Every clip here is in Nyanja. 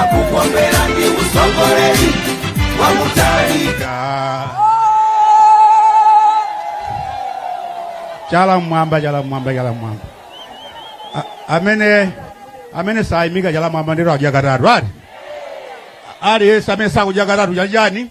akukomera ndi utsogoleri wa Mutharika chala mmwamba chala mmwamba chala mmwamba A- amene amene sakuyimika chala mmwamba nde sakudya katatu ati aliyense amene sakudya katatu chala chani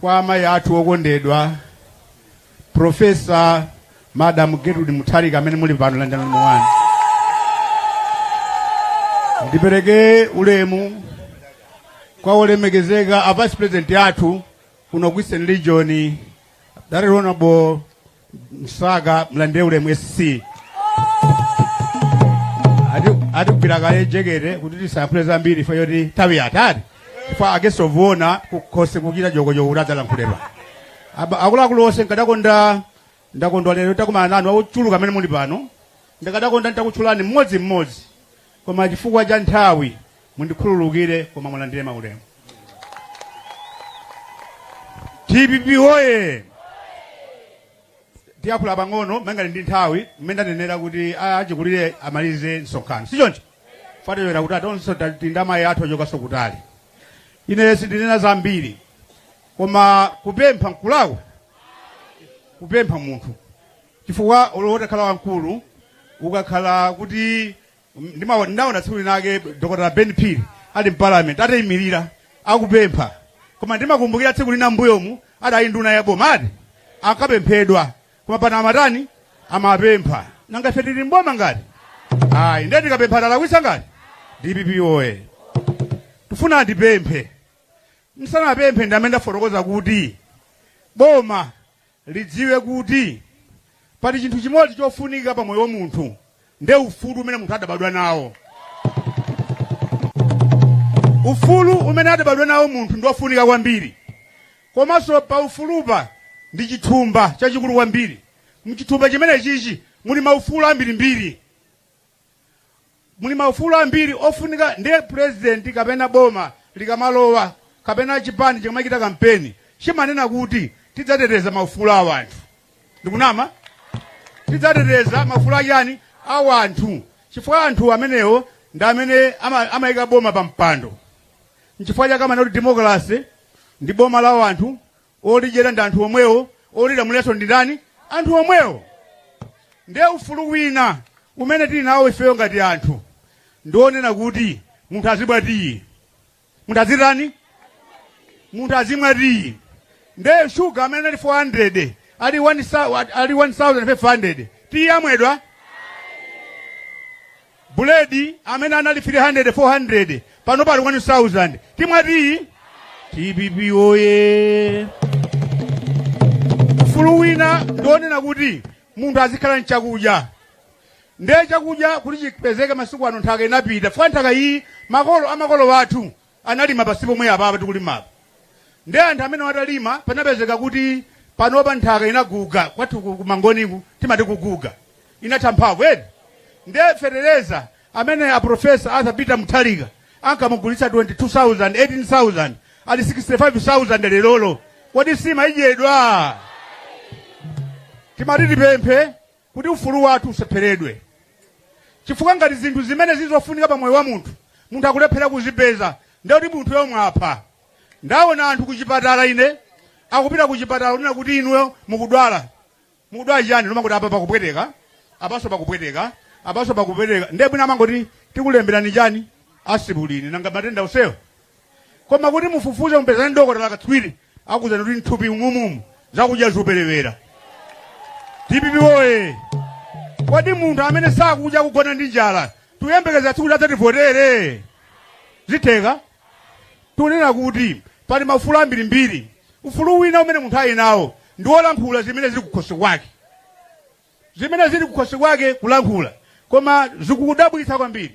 kwa amayi athu okondedwa profesa madam Gertrude Mutharika amene muli pano landani ulemu wanu ndipereke ulemu kwa olemekezeka a vice president athu kuno ku eastern region right honorable msaka mulandire ulemu sc Ati- atigwira kale jekete kuti tisayankhule zambiri chifukwa choti nthawi yatati chifukwa akesovuona kukhosi kuchita jokochoko kuti adzalankhulidwa Aba- akuluakulu onse nkadakonda ndakondwa lero takumana nanu akuchuluka amene muli pano ndikadakonda nditakutchulani mmodzi mmodzi Koma chifukwa cha nthawi mundikhululukire koma mulandire maulemu. Dpp woye! Tiyakhula pang'ono malingana ndi nthawi mmene ndanenera kuti achikulire amalize msonkhano. Si choncho? Fatewera kuti atonso tili ndi amayi athu achokanso kutali. Ine sindinena zambiri koma kupempha nkulakwa? kupempha munthu chifukwa olo utakhala wamkulu ukakhala kuti ndimawo- ndinaona tsiku linake dr Ben Phiri ali mparliament atayimirira akupempha koma ndimakumbukira tsiku lina mbuyomu adali nduna ya boma ati akapemphedwa koma pano amatani amapempha nanga ife tili mboma ngati ayi ndiye tikapempha talakwisa ngati dpp oye tifuna tipemphe tisanapemphe ndimafuna ndifotokoze kuti boma lidziwe kuti pali chinthu chimodzi chofunika pa moyo wa munthu nde ufulu umene munthu adabadwa nawo. Ufulu umene adabadwa nawo munthu ndi ofunika kwambiri komanso pa ufulupa ndi chithumba chachikulu kwambiri. Mchithumba chimenechichi muli maufulu ambirimbiri muli maufulu ambiri ofunika ndiye president kapena boma likamalowa kapena chipani chikamachita kampeni chimanena kuti tidzateteza maufulu a wanthu ndikunama tidzateteza maufulu achani a wanthu chifukwa anthu amenewo ndi amene ama- amayika boma pa mpando nchifukwa chake amanena kuti democracy ndi boma la wanthu Olidyera ndi anthu omwewo, olilamuliranso ndi ndani? Anthu omwewo. Ndiye ufulu wina umene tili nawo ifeyo ngati anthu ndi wonena kuti munthu azimwa tiyi, munthu azitani, munthu azimwa tiyi. Ndiye shuga amene ali 400 ali 1,000 ali 1,500 tiyi amwedwa? Buledi amene anali 300, 400 panopa ali 1000. Timwati dpp woye! Ufulu wina ndi wonena kuti munthu azikhala ndi chakudya. Ndiye chakudya kuti chipezeke masiku ano nthaka inapita. Chifukwa nthaka iyi makolo a makolo athu analima pansi pomwe apapa tikulimapa nde anthu amene ayamba talima panapezeka kuti panopa nthaka inaguga kwathu ku- ku mangoniku timati kuguga inatha mphamvu edi nde fetereza amene a Profesa Arthur Peter Mutharika ankamugulitsa 22000 18000 ali 65000 lerolo kodi nsima idyedwa timati tipemphe kuti ufulu wathu usapheredwe chifukwa ngati zinthu zimene zili zofunika pa moyo wa munthu munthu akulephera kuzipeza ndiye kuti munthuyo mwapha ndaona anthu kuchipatala ine akupita kuchipatala kunena kuti inuyo mukudwala mukudwala chiyani nkumangoti apa pakupweteka apanso pakupweteka apanso pakupweteka ndiye bwina amangoti tikulemberani chani asipulini nanga matenda onsewo koma kuti mufufuze mupezane ndi dokotala katswiri akuuzani kuti mthupi mumomu zakudya zikuperewera dpp oye kodi munthu amene sakudya kugona ndi njala tiyembekeze kuti adzativotere zitheka tunena kuti pali maufulu ambirimbiri ufulu wina umene munthu ali nawo ndi wolankhula zimene zili kukhosi kwake zimene zili kukhosi kwake kulankhula koma zikudabwitsa kwambiri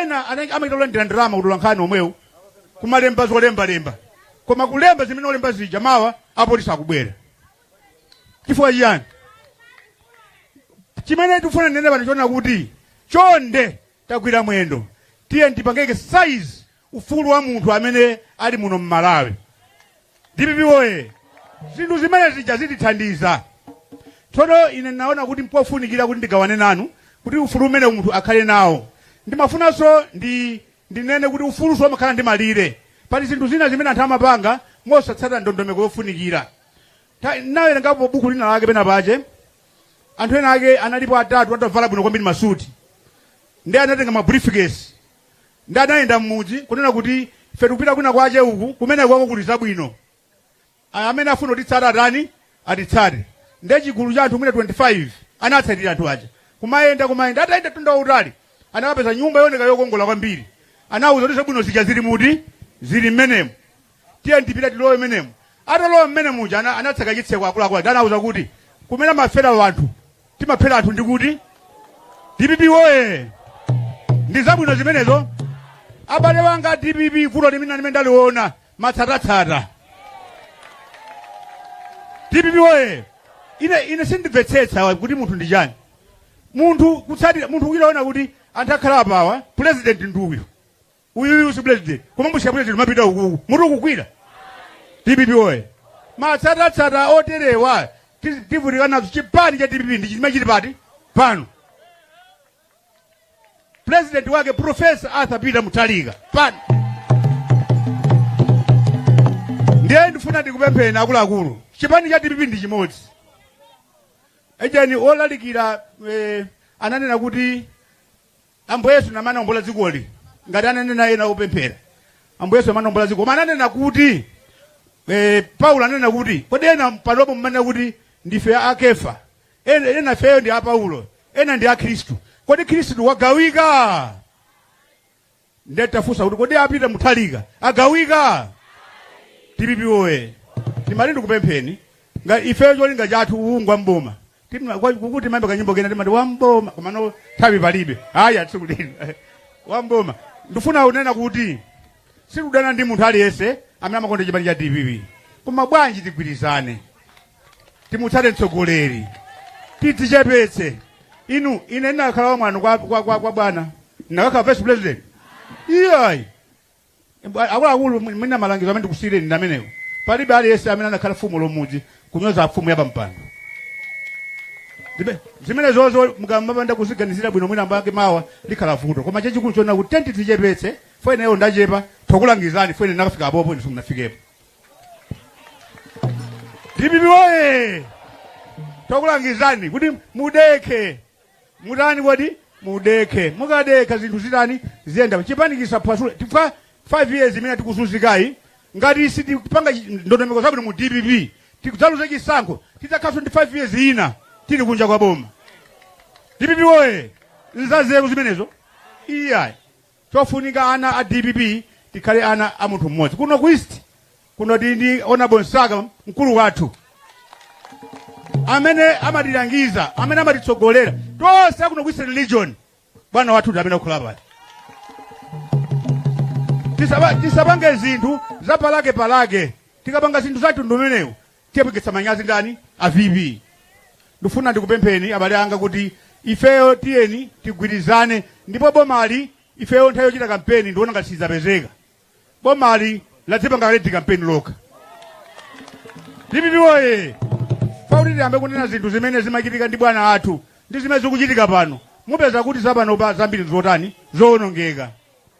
Ena amachita kulandira ndalama kutola nkhani omwewo kumalemba zolembalemba koma kulemba zimene olemba zija mawa apolisi akubwera chifukwa chiyani chimene tikufuna ndinene pano chonena kuti chonde tagwira mwendo tiyeni tipange exercise ufulu wa munthu amene ali muno m'malawi dpp oye zinthu zimenezija zitithandiza tsono ine ndinaona kuti mpofunikira kuti ndigawane nanu kuti ufulu umene munthu akhale nawo ndimafunanso ndi ndinene kuti ufulunso umakhala ndi malire pali zinthu zina zimene anthu amapanga mosatsata ndondomeko yofunikira Ta- ndinawerengapo buku lina lake pena pache anthu ena ake analipo atatu atavala bwino kwambiri masuti ndi anatenga ma briefcase ndi anayenda m'mudzi kunena kuti ife tikupita kwina kwache uku kumeneko kuli zabwino A- amene afuna kutitsata atani atitsate nde chigulu cha anthu mwina 25 anatsatira anthu aja kumayenda kumayenda atayenda mtunda wautali anakapeza nyumba yooneka yokongola kwambiri anawuza kuti zabwino zija zili muti zili mmenemo tiyeni tipite tilowe mmenemu atalowa mmene muja ana- anatseka chitseko akuluakulu aja anauza kuti kumene kumafera wanthu timaphera anthu ndikuti dpp woye ndi zabwino zimenezo abale wanga dpp vuto limene limene ndaliona matsatatsata dpp woye ine ine sindimvetsetsa kuti munthu ndi chani munthu kutsatira munthu ulikuona kuti anthu akhala apawa president ndi uyu uyuyu si president koma mbusiya president mapita ukuku mutu ukukwira dpp woye matsatatsata oterewa ti- tivutika nazo chipani cha dpp ndi chimene chili pati pano president wake profesa arthur peter mutharika pano ndiye ndifuna ndikupempheni akuluakulu chipani cha dpp ndi chimodzi ejani olalikira eh, ananena kuti Ambuye Yesu anabwera kuombola dzikoli ngati ananena ena opemphera. Ambuye Yesu amanaombola dziko. Koma ananena kuti eh, Paulo ananena kuti kodi ena panopo mmanena kuti ndife a Kefa. Ena ifeyo ndi a Paulo. Ena ndi a Khristu. Kodi Khristu wagawika? Ndiye tafunsa kuti kodi a Peter Mutharika agawika? DPP woye. Tima- ndikupempheni ngati ifeyo cholinga chathu ulowa m'boma. Tim- kwa- kukuti timayimba kanyimbo kena timati wamboma komano nthawi palibe haya tsiku lino wamboma ndifuna unena kuti sikudana ndi munthu aliyense amene amakonda chipani cha dpp koma bwanji tigwirizane timutsate mtsogoleri tidzichepetse inu ine ndinakhala wamwano kwa, kwa, kwa, kwa bwana ndinakakhala vice president iyayi Mbwa- akuluakulu mwina malangizo amene ndikusiyireni ndi amenewo palibe aliyense amene anakhala fumu ya m'mudzi kunyoza fumu ya pampando Ndibe- zimenezozo mukamapanda kuziganizira bwino mwina mwake mawa likhala vuto koma chachikulu chonena kuti tiyeni tidzichepetse fo ineyo ndachepa tokulangizani fo ine ndakafika apopo inu simunafikepo dpp woye tokulangizani kuti mudekhe mutani kodi mudekhe mukadekha zinthu zitani ziyenda chipani chisaphwasuke chifukwa 5 years imene tikuzunzikayi ngati sitipanga chi- ndondomeko zabwino mu dpp tidzaluza chisankho tidzakhalanso ndi 5 years ina tili kunja kwa boma dpp woye nzazeru zimenezo iyayi Chofunika ana a dpp tikhale ana a munthu mmodzi. Kuno ku East kuno tili ndi Honorable Msaka mkulu wathu amene amatilangiza amene amatitsogolera tonse akuno ku Eastern Region. Bwana wathu ndi amene akukhala pale. Tisaba- tisapange zinthu zapalake palake tikapanga zinthu zathu ndi mmenemo Tiyapekitsa manyazi ndani? A VP. Ndifuna ndikupempheni abale anga kuti ifeyo tiyeni tigwirizane ndipo bomali ifeyo nthawi yochita kampeni ndiona ngati sidzapezeka. Bomali ladzipanga kale kampeni lokha. DPP woye! Fauli tiyambe kunena zinthu zimene zimachitika ndi bwana athu ndi zimene zikuchitika pano. Mupeza kuti zapano pa zambiri zotani zowonongeka.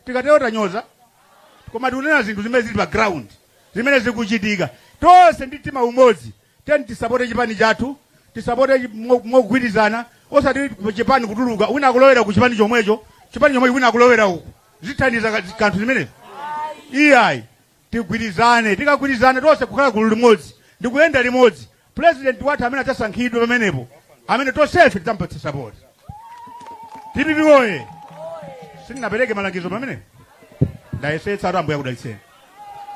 Tikatero sitinyoza koma tikunena zinthu zimene zili pa ground. zimene zikuchitika. Tonse ndi mtima umodzi tiyeni tisapote chipani chathu, tisapote chi- mo- mogwirizana, osati ku chipani kutuluka wina akulowera ku chipani chomwecho, chipani chomwecho wina akulowera uku, sizithandiza ka- kanthu zimenezi iyayi tigwirizane tikagwirizane tonse kukhala gulu limodzi ndi kuyenda limodzi pulezidenti wathu amene adzasankhidwe pamenepo amene tonsefe tidzampatsa sapoti DPP woye sindinapereke malangizo pamenepo ndayesetsa Ambuye akudalitseni